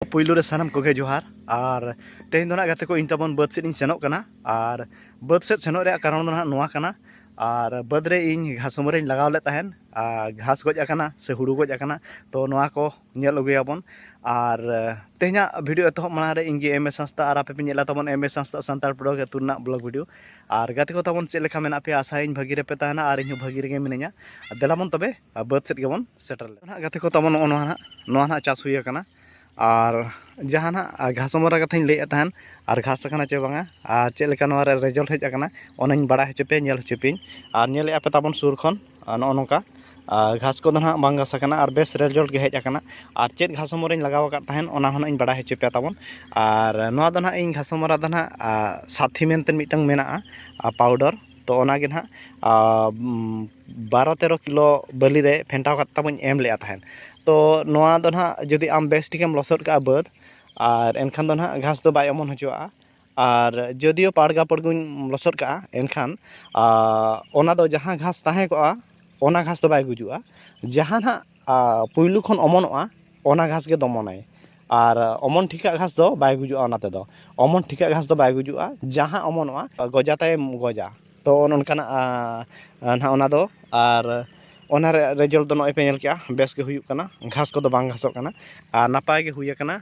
ᱯᱩᱭᱞᱩ ᱨᱮ ᱥᱟᱱᱟᱢ ᱠᱚᱜᱮ ᱡᱚᱦᱟᱨ ᱟᱨ ᱛᱮᱦᱮᱧ ᱫᱚ ᱱᱟᱜ ᱜᱟᱛᱮ ᱠᱚ ᱤᱧ ᱛᱟᱵᱚᱱ ᱵᱟᱹᱫᱽ ᱥᱮᱫ ᱤᱧ ᱥᱮᱱᱚᱜ ᱠᱟᱱᱟ ᱟᱨ ᱵᱟᱹᱫᱽ ᱥᱮᱫ ᱥᱮᱱᱚᱜ ᱨᱮᱭᱟᱜ ᱠᱟᱨᱚᱱ ᱫᱚ ᱱᱟᱜ ᱱᱚᱣᱟ ᱠᱟᱱᱟ ᱟᱨ ᱵᱟᱹᱫᱽ ᱨᱮ ᱤᱧ ᱜᱷᱟᱥᱚᱢᱟᱹ ᱨᱮᱧ ᱞᱟᱜᱟᱣ ᱞᱮᱫ ᱛᱟᱦᱮᱱ ᱟᱨ ᱜᱷᱟᱥ ᱜᱚᱡ ᱟᱠᱟᱱᱟ ᱥᱮ ᱦᱩᱲᱩ ᱜᱚᱡ ᱟᱠᱟᱱᱟ ᱛᱚ ᱱᱚᱣᱟ ᱠᱚ ᱧᱮᱞ ᱟᱹᱜᱩᱭᱟᱵᱚᱱ ᱟᱨ ᱛᱮᱦᱮᱧᱟᱜ ᱵᱷᱤᱰᱤᱭᱳ ᱮᱛᱚᱦᱚᱵ ᱢᱟᱲᱟᱝ ᱨᱮ ᱤᱧ ᱜᱮ ᱮᱢ ᱮᱥ ᱦᱟᱸᱥᱫᱟ ᱟᱨ ᱟᱯᱮ ᱯᱮ ᱧᱮᱞᱟ ᱛᱟᱵᱚᱱ M S Hansda Santal blog ᱟᱹᱛᱩ ᱨᱮᱱᱟᱜ ᱵᱞᱚᱜ ᱵᱷᱤᱰᱤᱭᱳ ᱟᱨ ᱜᱟᱛᱮ ᱠᱚ ᱛᱟᱵᱚᱱ ᱪᱮᱫ ᱞᱮᱠᱟ ᱢᱮᱱᱟᱜ ᱯᱮᱭᱟ ᱟᱥᱟᱭᱟᱹᱧ ᱵᱷᱟᱹᱜᱤ ᱨᱮᱯᱮ ᱛᱟᱦᱮᱱᱟ ᱟᱨ ᱤᱧ ᱦᱚᱸ ᱵᱷᱟᱹᱜᱤ ᱨᱮᱜᱮ ᱢᱤᱱᱟᱹᱧᱟ ᱫᱮᱞᱟᱵᱚᱱ ᱛᱚᱵᱮ ᱟᱨ ᱵᱟᱹᱫᱽ ᱥᱮᱫ ᱜᱮᱵᱚᱱ ᱥᱮᱴᱮᱨ ᱞᱮᱱᱟ ᱱᱟᱦᱟᱜ ᱜᱟᱛᱮ ᱠᱚ ᱛᱟᱵᱚᱱ ᱱᱚᱜᱼᱚ ᱱᱚᱣᱟ ᱱᱟᱦᱟᱜ ᱱᱚᱣᱟ ᱱᱟᱦᱟᱜ ᱪᱟᱥ ᱦᱩᱭ ᱟᱠᱟᱱᱟ ᱟᱨ ᱡᱟᱦᱟᱸ ᱱᱟᱦᱟᱜ ᱜᱷᱟᱥᱢᱟᱨᱟ ᱠᱟᱛᱷᱟᱧ ᱞᱟᱹᱭᱮᱫ ᱛᱟᱦᱮᱱ ᱟᱨ ᱜᱷᱟᱥ ᱟᱠᱟᱱᱟ ᱪᱮ ᱵᱟᱝᱟ ᱟᱨ ᱪᱮᱫ ᱞᱮᱠᱟ ᱱᱚᱣᱟ ᱨᱮ ᱨᱮᱡᱟᱞᱴ ᱦᱮᱡ ᱟᱠᱟᱱᱟ ᱚᱱᱟᱧ ᱵᱟᱲᱟᱭ ᱦᱚᱪᱚ ᱯᱮᱭᱟ ᱧᱮᱞ ᱦᱚᱪᱚ ᱯᱮᱭᱟᱹᱧ ᱟᱨ ᱧᱮᱞᱮᱫᱼᱟ ᱯᱮ ᱛᱟᱵᱚᱱ ᱥᱩᱨ ᱠᱷᱚᱱ ᱱᱚᱜᱼᱚ ᱱᱚᱝᱠᱟ ᱟᱨ ᱜᱷᱟᱥ ᱠᱚᱫᱚ ᱱᱟᱦᱟᱜ ᱵᱟᱝ ᱜᱷᱟᱥ ᱟᱠᱟᱱᱟ ᱟᱨ ᱵᱮᱥ ᱨᱮᱡᱟᱞᱴ ᱜᱮ ᱦᱮᱡ ᱟᱠᱟᱱᱟ ᱟᱨ ᱪᱮᱫ ᱜᱷᱟᱥᱢᱟᱨᱟᱧ ᱞᱟᱜᱟᱣ ᱟᱠᱟᱫ ᱛᱟᱦᱮᱱ ᱚᱱᱟ ᱦᱚᱸ ᱱᱟᱦᱟᱜ ᱤᱧ ᱵᱟᱲᱟᱭ ᱦᱚᱪᱚ ᱯᱮᱭᱟ ᱛᱟᱵᱚᱱ ᱟᱨ ᱱᱚᱣᱟ ᱫᱚ ᱱᱟᱦᱟᱜ ᱤᱧ ᱜᱷᱟᱥᱢᱟᱨᱟ ᱫᱚ ᱱᱟᱦᱟᱜ ᱥᱟᱛᱷᱤ ᱢᱮᱱᱛᱮ ᱢᱤᱫᱴᱟᱝ ᱢᱮᱱᱟᱜᱼᱟ ᱯᱟᱣᱰᱟᱨ ᱛᱚ ᱚᱱᱟᱜᱮ ᱱᱟᱦᱟᱜ ᱵᱟᱨᱚ ᱛᱮᱨᱚ ᱠᱤᱞᱳ ᱵᱟᱹᱞᱤ ᱨᱮ ᱯᱷᱮᱱᱴᱟᱣ ᱠᱟᱛᱮᱫ ᱛᱟᱵᱚᱧ ᱮᱢ ᱞᱮᱫᱼᱟ ᱛᱟᱦᱮᱸᱫ ᱛᱳ ᱱᱚᱣᱟ ᱫᱚ ᱦᱟᱸᱜ ᱡᱩᱫᱤ ᱟᱢ ᱵᱮᱥ ᱴᱷᱤᱠ ᱮᱢ ᱞᱚᱥᱚᱫ ᱠᱟᱜᱼᱟ ᱵᱟᱹᱫᱽ ᱟᱨ ᱮᱱᱠᱷᱟᱱ ᱫᱚ ᱦᱟᱸᱜ ᱜᱷᱟᱥ ᱫᱚ ᱵᱟᱭ ᱚᱢᱚᱱ ᱦᱚᱪᱚᱣᱟᱜᱼᱟ ᱟᱨ ᱡᱳᱫᱤᱭᱳ ᱯᱟᱲᱜᱟ ᱯᱩᱲᱜᱩᱧ ᱞᱚᱥᱚᱫ ᱠᱟᱜᱼᱟ ᱮᱱᱠᱷᱟᱱ ᱚᱱᱟ ᱫᱚ ᱡᱟᱦᱟᱸ ᱜᱷᱟᱥ ᱛᱟᱦᱮᱸ ᱠᱚᱜᱼᱟ ᱚᱱᱟ ᱜᱷᱟᱥ ᱫᱚ ᱵᱟᱭ ᱜᱩᱡᱩᱜᱼᱟ ᱡᱟᱦᱟᱸ ᱦᱟᱸᱜ ᱯᱩᱭᱞᱩ ᱠᱷᱚᱱ ᱚᱢᱚᱱᱚᱜᱼᱟ ᱚᱱᱟ ᱜᱷᱟᱥ ᱜᱮ ᱫᱚᱢᱚᱱᱟᱭ ᱟᱨ ᱚᱢᱚᱱ ᱴᱷᱤᱠᱟᱜ ᱜᱷᱟᱥ ᱫᱚ ᱵᱟᱭ ᱜᱩᱡᱩᱜᱼᱟ ᱚᱱᱟ ᱛᱮᱫᱚ ᱚᱢᱚᱱ ᱴᱷᱤᱠᱟᱜ ᱜᱷᱟᱥ ᱫᱚ ᱵᱟᱭ ᱜᱩᱡᱩᱜᱼᱟ ᱡᱟᱦᱟᱸ ᱚᱢᱚᱱᱚᱜᱼᱟ ᱜᱚᱡᱟ ᱛᱟᱭᱮ ᱜᱚᱡᱟ ᱛᱚ ᱚᱱᱮ ᱚᱱᱠᱟᱱᱟᱜ ᱱᱟᱦᱟᱜ ᱚᱱᱟ ᱫᱚ ᱟᱨ ᱚᱱᱟ ᱨᱮᱭᱟᱜ ᱨᱮᱡᱟᱞᱴ ᱫᱚ ᱱᱚᱜᱼᱚᱭ ᱯᱮ ᱧᱮᱞ ᱠᱮᱜᱼᱟ ᱵᱮᱥ ᱜᱮ ᱦᱩᱭᱩᱜ ᱠᱟᱱᱟ ᱜᱷᱟᱥ ᱠᱚᱫᱚ ᱵᱟᱝ ᱜᱷᱟᱥᱚᱜ ᱠᱟᱱᱟ ᱟᱨ ᱱᱟᱯᱟᱭ ᱜᱮ ᱦᱩᱭᱟᱠᱟᱱᱟ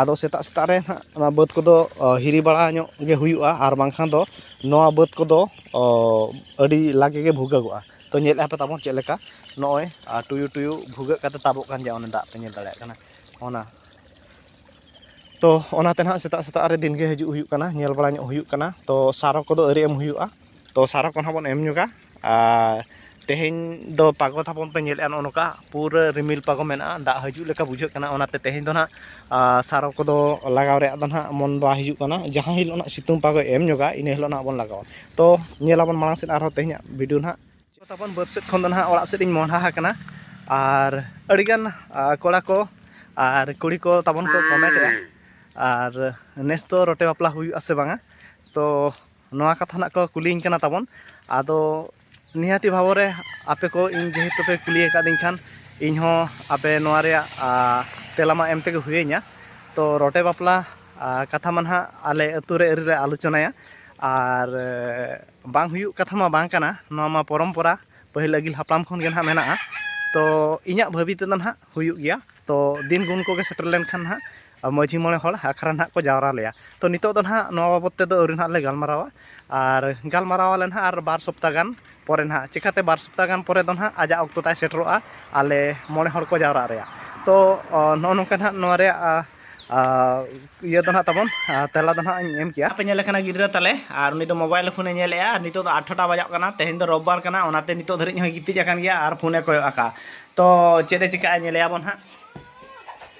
ᱟᱫᱚ ᱥᱮᱛᱟᱜ ᱥᱮᱛᱟᱜ ᱨᱮ ᱱᱟᱦᱟᱜ ᱚᱱᱟ ᱵᱟᱹᱫᱽ ᱠᱚᱫᱚ ᱦᱤᱨᱤ ᱵᱟᱲᱟ ᱧᱚᱜ ᱜᱮ ᱦᱩᱭᱩᱜᱼᱟ ᱟᱨ ᱵᱟᱝᱠᱷᱟᱱ ᱫᱚ ᱱᱚᱣᱟ ᱵᱟᱹᱫᱽ ᱠᱚᱫᱚ ᱟᱹᱰᱤ ᱞᱟᱜᱮ ᱜᱮ ᱵᱷᱩᱜᱟᱹᱜᱚᱜᱼᱟ ᱛᱚ ᱧᱮᱞ ᱮᱫᱼᱟ ᱯᱮ ᱛᱟᱵᱚᱱ ᱪᱮᱫ ᱞᱮᱠᱟ ᱱᱚᱜᱼᱚᱭ ᱴᱩᱭᱩ ᱴᱩᱭᱩ ᱵᱷᱩᱜᱟᱹᱜ ᱠᱟᱛᱮᱫ ᱛᱟᱵᱚᱜ ᱠᱟᱱ ᱜᱮᱭᱟ ᱚᱱᱟ ᱫᱟᱜ ᱯᱮ ᱧᱮᱞ ᱫᱟᱲᱮᱭᱟᱜ ᱠᱟᱱᱟ ᱚᱱᱟ ᱛᱚ ᱚᱱᱟᱛᱮ ᱱᱟᱦᱟᱜ ᱥᱮᱛᱟᱜ ᱥᱮᱛᱟᱜ ᱨᱮ ᱫᱤᱱᱜᱮ ᱦᱤᱡᱩᱜ ᱦᱩᱭᱩᱜ ᱠᱟᱱᱟ ᱧᱮᱞ ᱵᱟᱲᱟ ᱧᱚᱜ ᱦᱩᱭᱩᱜ ᱠᱟᱱᱟ ᱛᱚ ᱥᱟᱨ ᱠᱚᱫᱚ ᱟᱹᱣᱨᱤ ᱮᱢ ᱦᱩᱭᱩᱜᱼᱟ ᱛᱚ ᱥᱟᱨ ᱠᱚᱦᱚᱸ ᱵᱚᱱ ᱮᱢ ᱧᱚᱜᱟ ᱟᱨ ᱛᱮᱦᱮᱧ ᱫᱚ ᱯᱟᱜᱚ ᱛᱟᱵᱚᱱ ᱯᱮ ᱧᱮᱞᱮᱫᱼᱟ ᱱᱚᱜᱼᱚ ᱱᱚᱝᱠᱟ ᱯᱩᱨᱟᱹ ᱨᱤᱢᱤᱞ ᱯᱟᱜᱚ ᱢᱮᱱᱟᱜᱼᱟ ᱫᱟᱜ ᱦᱤᱡᱩᱜ ᱞᱮᱠᱟ ᱵᱩᱡᱷᱟᱹᱜ ᱠᱟᱱᱟ ᱚᱱᱟᱛᱮ ᱛᱮᱦᱮᱧ ᱫᱚ ᱦᱟᱸᱜ ᱥᱟᱨᱚ ᱠᱚᱫᱚ ᱞᱟᱜᱟᱣ ᱨᱮᱭᱟᱜ ᱫᱚ ᱦᱟᱸᱜ ᱢᱚᱱ ᱵᱟᱭ ᱦᱤᱡᱩᱜ ᱠᱟᱱᱟ ᱡᱟᱦᱟᱸ ᱦᱤᱞᱳᱜ ᱦᱟᱸᱜ ᱥᱤᱛᱩᱝ ᱯᱟᱜᱚᱭ ᱮᱢ ᱧᱚᱜᱟ ᱤᱱᱟᱹ ᱦᱤᱞᱳᱜ ᱦᱟᱸᱜ ᱵᱚᱱ ᱞᱟᱜᱟᱣᱟ ᱛᱚ ᱧᱮᱞ ᱟᱵᱚᱱ ᱢᱟᱲᱟᱝ ᱥᱮᱫ ᱟᱨᱦᱚᱸ ᱛᱮᱦᱮᱧᱟᱜ ᱵᱷᱤᱰᱤᱭᱳ ᱦᱟᱸᱜ ᱛᱟᱵᱚᱱ ᱵᱟᱹᱫᱽ ᱥᱮᱫ ᱠᱷᱚᱱ ᱫᱚ ᱦᱟᱸᱜ ᱚᱲᱟᱜ ᱥᱮᱫ ᱤᱧ ᱢᱚᱦᱰᱟ ᱟᱠᱟᱱᱟ ᱟᱨ ᱟᱹᱰᱤᱜᱟᱱ ᱠᱚᱲᱟ ᱠᱚ ᱟᱨ ᱠᱩᱲᱤ ᱠᱚ ᱛᱟᱵᱚᱱ ᱠᱚ ᱠᱚᱢᱮᱱᱴᱮᱜᱼᱟ ᱟᱨ ᱱᱮᱥ ᱫᱚ ᱨᱚᱴᱮ ᱵᱟᱯᱞᱟ ᱦᱩᱭᱩᱜᱼᱟ ᱥᱮ ᱵᱟᱝᱟ ᱛᱚ ᱱᱚᱣᱟ ᱠᱟᱛᱷᱟ ᱱᱟᱜ ᱠᱚ ᱠᱩᱞᱤᱧ ᱠᱟᱱᱟ ᱛᱟᱵᱚᱱ ᱟᱫᱚ ᱱᱤᱦᱟᱹᱛᱤ ᱵᱷᱟᱵᱚᱨᱮ ᱟᱯᱮ ᱠᱚ ᱤᱧ ᱡᱮᱦᱮᱛᱩ ᱯᱮ ᱠᱩᱞᱤ ᱟᱠᱟᱫᱤᱧ ᱠᱷᱟᱱ ᱤᱧ ᱦᱚᱸ ᱟᱯᱮ ᱱᱚᱣᱟ ᱨᱮᱭᱟᱜ ᱛᱮᱞᱟ ᱢᱟ ᱮᱢ ᱛᱮᱜᱮ ᱦᱩᱭᱟᱹᱧᱟ ᱛᱚ ᱨᱚᱴᱮ ᱵᱟᱯᱞᱟ ᱠᱟᱛᱷᱟ ᱢᱟ ᱱᱟᱦᱟᱜ ᱟᱞᱮ ᱟᱹᱛᱩ ᱨᱮ ᱟᱹᱣᱨᱤ ᱞᱮ ᱟᱞᱳᱪᱚᱱᱟᱭᱟ ᱟᱨ ᱵᱟᱝ ᱦᱩᱭᱩᱜ ᱠᱟᱛᱷᱟ ᱢᱟ ᱵᱟᱝ ᱠᱟᱱᱟ ᱱᱚᱣᱟ ᱢᱟ ᱯᱚᱨᱚᱢᱯᱚᱨᱟ ᱯᱟᱹᱦᱤᱞ ᱟᱹᱜᱤᱞ ᱦᱟᱯᱲᱟᱢ ᱠᱷᱚᱱ ᱜᱮ ᱱᱟᱦᱟᱜ ᱢᱮᱱᱟᱜᱼᱟ ᱛᱚ ᱤᱧᱟᱹᱜ ᱵᱷᱟᱹᱵᱤ ᱛᱮᱫᱚ ᱱᱟᱦᱟᱜ ᱦᱩᱭᱩᱜ ᱜᱮᱭᱟ ᱛᱚ ᱫᱤᱱ ᱜᱩᱱ ᱠᱚᱜᱮ ᱥᱮᱴᱮᱨ ᱞᱮᱱᱠᱷᱟᱱ ᱱᱟᱦᱟᱜ ᱢᱟᱹᱡᱷᱤ ᱢᱚᱬᱮ ᱦᱚᱲ ᱟᱠᱷᱲᱟ ᱱᱟᱦᱟᱜ ᱠᱚ ᱡᱟᱣᱨᱟ ᱞᱮᱭᱟ ᱛᱚ ᱱᱤᱛᱚᱜ ᱫᱚ ᱱᱟᱦᱟᱜ ᱱᱚᱣᱟ ᱵᱟᱵᱚᱫ ᱛᱮᱫᱚ ᱟᱹᱣᱨᱤ ᱱᱟᱦᱟᱜ ᱞᱮ ᱜᱟᱞᱢᱟᱨᱟᱣᱟ ᱟᱨ ᱜᱟᱞᱢᱟᱨᱟᱣ ᱟᱞᱮ ᱱᱟᱦᱟᱜ ᱟᱨ ᱵᱟᱨ ᱥᱚᱯᱛᱟ ᱜᱟᱱ ᱯᱚᱨᱮ ᱱᱟᱦᱟᱜ ᱪᱤᱠᱟᱹᱛᱮ ᱵᱟᱨ ᱥᱚᱯᱛᱟ ᱜᱟᱱ ᱯᱚᱨᱮ ᱫᱚ ᱱᱟᱦᱟᱜ ᱟᱡᱟᱜ ᱚᱠᱛᱚ ᱛᱟᱭ ᱥᱮᱴᱮᱨᱚᱜᱼᱟ ᱟᱞᱮ ᱢᱚᱬᱮ ᱦᱚᱲ ᱠᱚ ᱡᱟᱣᱨᱟᱜ ᱨᱮᱭᱟᱜ ᱛᱚ ᱱᱚᱜᱼᱚ ᱱᱚᱝᱠᱟ ᱱᱟᱦᱟᱜ ᱱᱚᱣᱟ ᱨᱮᱭᱟᱜ ᱤᱭᱟᱹ ᱫᱚ ᱱᱟᱦᱟᱜ ᱛᱟᱵᱚᱱ ᱛᱮᱞᱟ ᱫᱚ ᱱᱟᱦᱟᱜ ᱤᱧ ᱮᱢ ᱠᱮᱜᱼᱟ ᱟᱯᱮ ᱧᱮᱞᱮ ᱠᱟᱱᱟ ᱜᱤᱫᱽᱨᱟᱹ ᱛᱟᱞᱮ ᱟᱨ ᱩᱱᱤ ᱫᱚ ᱢᱳᱵᱟᱭᱤᱞ ᱯᱷᱳᱱᱮ ᱧᱮᱞᱮᱜᱼᱟ ᱟᱨ ᱱᱤᱛᱚᱜ ᱫᱚ ᱟᱴᱷᱚᱴᱟ ᱵᱟᱡᱟᱜ ᱠᱟᱱᱟ ᱛᱮᱦᱮᱧ ᱫᱚ ᱨᱳᱵᱵᱟᱨ ᱠᱟᱱᱟ ᱚᱱᱟᱛᱮ ᱱᱤᱛᱚᱜ ᱫᱷᱟᱹᱨᱤᱡ ᱦᱚᱸᱭ ᱜᱤᱛᱤᱡ ᱟᱠᱟᱱ ᱜᱮᱭᱟ ᱟᱨ ᱯᱷᱳᱱᱮ ᱠᱚᱭᱚᱜ ᱟᱠᱟᱜᱼᱟ ᱛᱚ ᱪᱮᱫ ᱮ ᱪᱤᱠᱟᱹᱜᱼᱟ ᱧᱮᱞᱮᱭᱟᱵᱚᱱ ᱦᱟᱸᱜ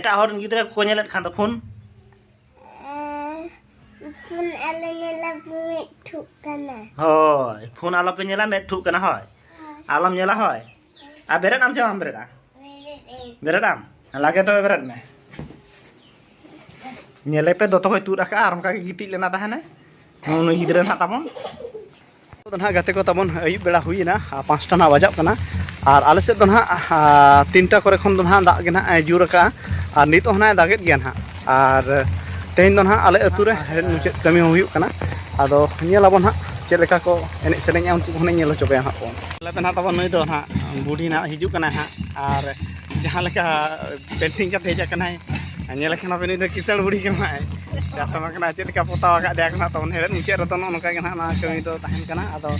ᱮᱴᱟᱜ ᱦᱚᱲ ᱨᱮᱱ ᱜᱤᱫᱽᱨᱟᱹ ᱠᱚᱠᱚ ᱧᱮᱞᱮᱫ ᱠᱷᱟᱱ ᱫᱚ ᱯᱷᱳᱱ ᱯᱷᱳᱱ ᱟᱞᱮ ᱧᱮᱞᱟ ᱢᱮᱫ ᱴᱷᱩᱜ ᱠᱟᱱᱟ ᱦᱳᱭ ᱯᱷᱳᱱ ᱟᱞᱚᱯᱮ ᱧᱮᱞᱟ ᱢᱮᱫ ᱴᱷᱩᱜ ᱠᱟᱱᱟ ᱦᱳᱭ ᱟᱞᱚᱢ ᱧᱮᱞᱟ ᱦᱳᱭ ᱟᱨ ᱵᱮᱨᱮᱫ ᱟᱢ ᱥᱮ ᱵᱟᱢ ᱵᱮᱨᱮᱫᱟ ᱵᱮᱨᱮᱫ ᱟᱢ ᱞᱟᱜᱮ ᱛᱚᱵᱮ ᱵᱮᱨᱮᱫ ᱢᱮ ᱧᱮᱞᱮᱯᱮ ᱫᱚᱛᱚ ᱦᱚᱭ ᱛᱩᱫ ᱟᱠᱟᱫᱼᱟ ᱟᱨ ᱚᱱᱠᱟᱜᱮ ᱜᱤᱛᱤᱡ ᱞᱮᱱᱟ ᱛᱟᱦᱮᱱᱟᱭ ᱱᱩᱭ ᱜᱤᱫᱽᱨᱟᱹ ᱱᱟᱦᱟᱜ ᱛᱟᱵᱚᱱ ᱫᱚ ᱱᱟᱦᱟᱜ ᱜᱟᱛᱮ ᱠᱚ ᱛᱟᱵᱚᱱ ᱟᱹᱭᱩᱵ ᱵᱮᱲᱟ ᱦᱩᱭᱮᱱᱟ ᱯᱟᱸᱪᱴᱟ ᱱᱟᱦᱟᱜ ᱵᱟᱡᱟᱜ ᱠᱟᱱᱟ ᱟᱨ ᱟᱞᱮ ᱥᱮᱫ ᱫᱚ ᱱᱟᱦᱟᱜ ᱛᱤᱱᱴᱟ ᱠᱚᱨᱮ ᱠᱷᱚᱱ ᱫᱚ ᱱᱟᱦᱟᱜ ᱫᱟᱜ ᱜᱮ ᱱᱟᱦᱟᱜ ᱡᱩᱨ ᱟᱠᱟᱜᱼᱟ ᱟᱨ ᱱᱤᱛᱚᱜ ᱦᱚᱸ ᱱᱟᱦᱟᱜ ᱫᱟᱜᱮᱫ ᱜᱮᱭᱟ ᱱᱟᱦᱟᱜ ᱟᱨ ᱛᱮᱦᱮᱧ ᱫᱚ ᱱᱟᱦᱟᱜ ᱟᱞᱮ ᱟᱹᱛᱩ ᱨᱮ ᱦᱮᱲᱦᱮᱫ ᱢᱩᱪᱟᱹᱫ ᱠᱟᱹᱢᱤ ᱦᱚᱸ ᱦᱩᱭᱩᱜ ᱠᱟᱱᱟ ᱟᱫᱚ ᱧᱮᱞ ᱟᱵᱚᱱ ᱱᱟᱦᱟᱜ ᱪᱮᱫ ᱞᱮᱠᱟ ᱠᱚ ᱮᱱᱮᱡ ᱥᱮᱨᱮᱧᱟ ᱩᱱᱠᱩ ᱦᱚᱸ ᱧᱮᱞ ᱦᱚᱪᱚ ᱯᱮᱭᱟ ᱱᱟᱦᱟᱜ ᱵᱚᱱ ᱟᱞᱮ ᱫᱚ ᱱᱟᱦᱟᱜ ᱛᱟᱵᱚᱱ ᱱᱩᱭ ᱫᱚ ᱱᱟᱦᱟᱜ ᱵᱩᱰᱷᱤ ᱱᱟᱦᱟᱜ ᱦᱤᱡᱩᱜ ᱠᱟᱱᱟᱭ ᱱᱟᱦᱟᱜ ᱟᱨ ᱡᱟᱦᱟᱸ ᱞᱮᱠᱟ ᱯᱮᱱᱴᱤᱝ ᱠᱟᱛᱮ ᱦᱮᱡ ᱟᱠᱟᱱᱟᱭ ᱧᱮᱞ ᱠᱷᱟᱱ ᱟᱵᱮᱱ ᱫᱚ ᱠᱤᱥᱟᱹᱬ ᱵᱩᱲᱦᱤ ᱠᱟᱱᱟᱭ ᱪᱟᱛᱚᱢ ᱠᱟᱱᱟ ᱪᱮᱫ ᱞᱮᱠᱟ ᱯᱚᱛᱟᱣ ᱟᱠᱟᱫ ᱫᱮᱭᱟ ᱠᱟᱱᱟ ᱛᱟᱵᱚᱱ ᱦᱮᱲᱮᱫ ᱢᱩᱪᱟᱹᱫ ᱨᱮᱫᱚ ᱱᱚᱜᱼᱚ ᱱᱚᱝᱠᱟ ᱜᱮ ᱱᱟᱦᱟᱜ ᱱᱚᱣᱟ ᱠᱟᱹᱢᱤ ᱫᱚ ᱛᱟᱦᱮᱱ ᱠᱟᱱᱟ ᱟᱫᱚ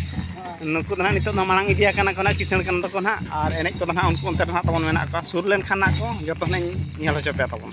ᱱᱩᱠᱩ ᱫᱚ ᱱᱟᱦᱟᱜ ᱱᱤᱛᱚᱜ ᱫᱚ ᱢᱟᱲᱟᱝ ᱤᱫᱤ ᱟᱠᱟᱱᱟ ᱠᱚ ᱱᱟᱦᱟᱜ ᱠᱤᱥᱟᱹᱬ ᱠᱟᱱ ᱫᱚᱠᱚ ᱱᱟᱦᱟᱜ ᱟᱨ ᱮᱱᱮᱡ ᱠᱚᱫᱚ ᱱᱟᱦᱟᱜ ᱩᱱᱠᱩ ᱚᱱᱛᱮ ᱨᱮ ᱱᱟᱦᱟᱜ ᱛᱟᱵᱚᱱ ᱢᱮᱱᱟᱜ ᱠᱚᱣᱟ ᱥᱩᱨ ᱞᱮᱱᱠᱷᱟᱱ ᱱᱟᱦᱟᱜ ᱠᱚ ᱡᱚᱛᱚ ᱦᱩᱱᱟᱹᱝ ᱤᱧ ᱧᱮᱞ ᱦᱚᱪᱚ ᱯᱮᱭᱟ ᱛᱟᱵᱚᱱ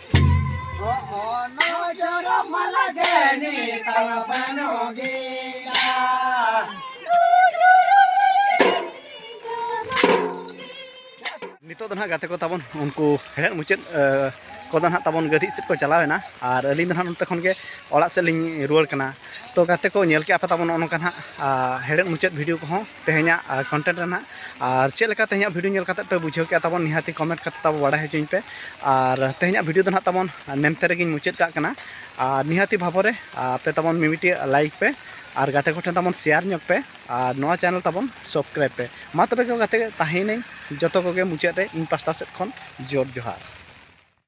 ᱱᱤᱛᱚᱜ ᱫᱚ ᱱᱟᱦᱟᱜ ᱜᱟᱛᱮ ᱠᱚ ᱛᱟᱵᱚᱱ ᱩᱱᱠᱩ ᱦᱮᱲᱦᱮᱫ ᱢᱩᱪᱟᱹᱫ ᱠᱚᱫᱚ ᱱᱟᱦᱟᱜ ᱛᱟᱵᱚᱱ ᱜᱟᱹᱫᱷᱤ ᱥᱮᱫ ᱠᱚ ᱪᱟᱞᱟᱣ ᱮᱱᱟ ᱟᱨ ᱟᱹᱞᱤᱧ ᱫᱚ ᱱᱟᱦᱟᱜ ᱱᱚᱛᱮ ᱠᱷᱚᱱ ᱜᱮ ᱚᱲᱟᱜ ᱥᱮᱫ ᱞᱤᱧ ᱨᱩᱣᱟᱹᱲ ᱠᱟᱱᱟ ᱛᱚ ᱜᱟᱛᱮ ᱠᱚ ᱧᱮᱞ ᱠᱮᱜᱼᱟ ᱯᱮ ᱛᱟᱵᱚᱱ ᱱᱚᱜᱼᱚ ᱱᱚᱝᱠᱟ ᱱᱟᱦᱟᱜ ᱦᱮᱲᱦᱮᱫ ᱢᱩᱪᱟᱹᱫ ᱵᱷᱤᱰᱤᱭᱳ ᱠᱚᱦᱚᱸ ᱛᱮᱦᱮᱧᱟᱜ ᱠᱚᱱᱴᱮᱱᱴ ᱨᱮᱱᱟᱜ ᱟᱨ ᱪᱮᱫ ᱞᱮᱠᱟ ᱛᱮᱦᱮᱧᱟᱜ ᱵᱷᱤᱰᱤᱭᱳ ᱧᱮᱞ ᱠᱟᱛᱮ ᱯᱮ ᱵᱩᱡᱷᱟᱹᱣ ᱠᱮᱜᱼᱟ ᱛᱟᱵᱚᱱ ᱱᱤᱦᱟᱹᱛᱤ ᱠᱚᱢᱮᱱᱴ ᱠᱟᱛᱮ ᱛᱟᱵᱚ ᱵᱟᱲᱟᱭ ᱦᱚᱪᱚᱧ ᱯᱮ ᱟᱨ ᱛᱮᱦᱮᱧᱟᱜ ᱵᱷᱤᱰᱤᱭᱳ ᱫᱚ ᱱᱟᱦᱟᱜ ᱛᱟᱵᱚᱱ ᱱᱮᱢᱛᱮ ᱨᱮᱜᱮᱧ ᱢᱩᱪᱟᱹᱫ ᱠᱟᱜ ᱠᱟᱱᱟ ᱟᱨ ᱱᱤᱦᱟᱹᱛᱤ ᱵᱷᱟᱵᱚᱨᱮ ᱟᱯᱮ ᱛᱟᱵᱚᱱ ᱢᱤᱢᱤᱴᱤ ᱞᱟᱭᱤᱠ ᱯᱮ ᱟᱨ ᱜᱟᱛᱮ ᱠᱚᱴᱷᱮᱱ ᱛᱟᱵᱚᱱ ᱥᱮᱭᱟᱨ ᱧᱚᱜ ᱯᱮ ᱟᱨ ᱱᱚᱣᱟ ᱪᱮᱱᱮᱞ ᱛᱟᱵᱚᱱ ᱥᱚᱵᱥᱠᱨᱟᱭᱤᱵ ᱯᱮ ᱢᱟ ᱛᱚᱵᱮ ᱜᱟᱛᱮ ᱛᱟᱦᱮᱸᱱᱟᱹᱧ ᱡᱚᱛᱚ ᱠᱚᱜᱮ ᱢᱩᱪᱟᱹᱫ ᱨᱮ ᱤᱧ ᱯᱟᱥᱴᱟ ᱥᱮᱫ ᱠᱷᱚᱱ ᱡᱳᱨ ᱡᱚᱦᱟᱨ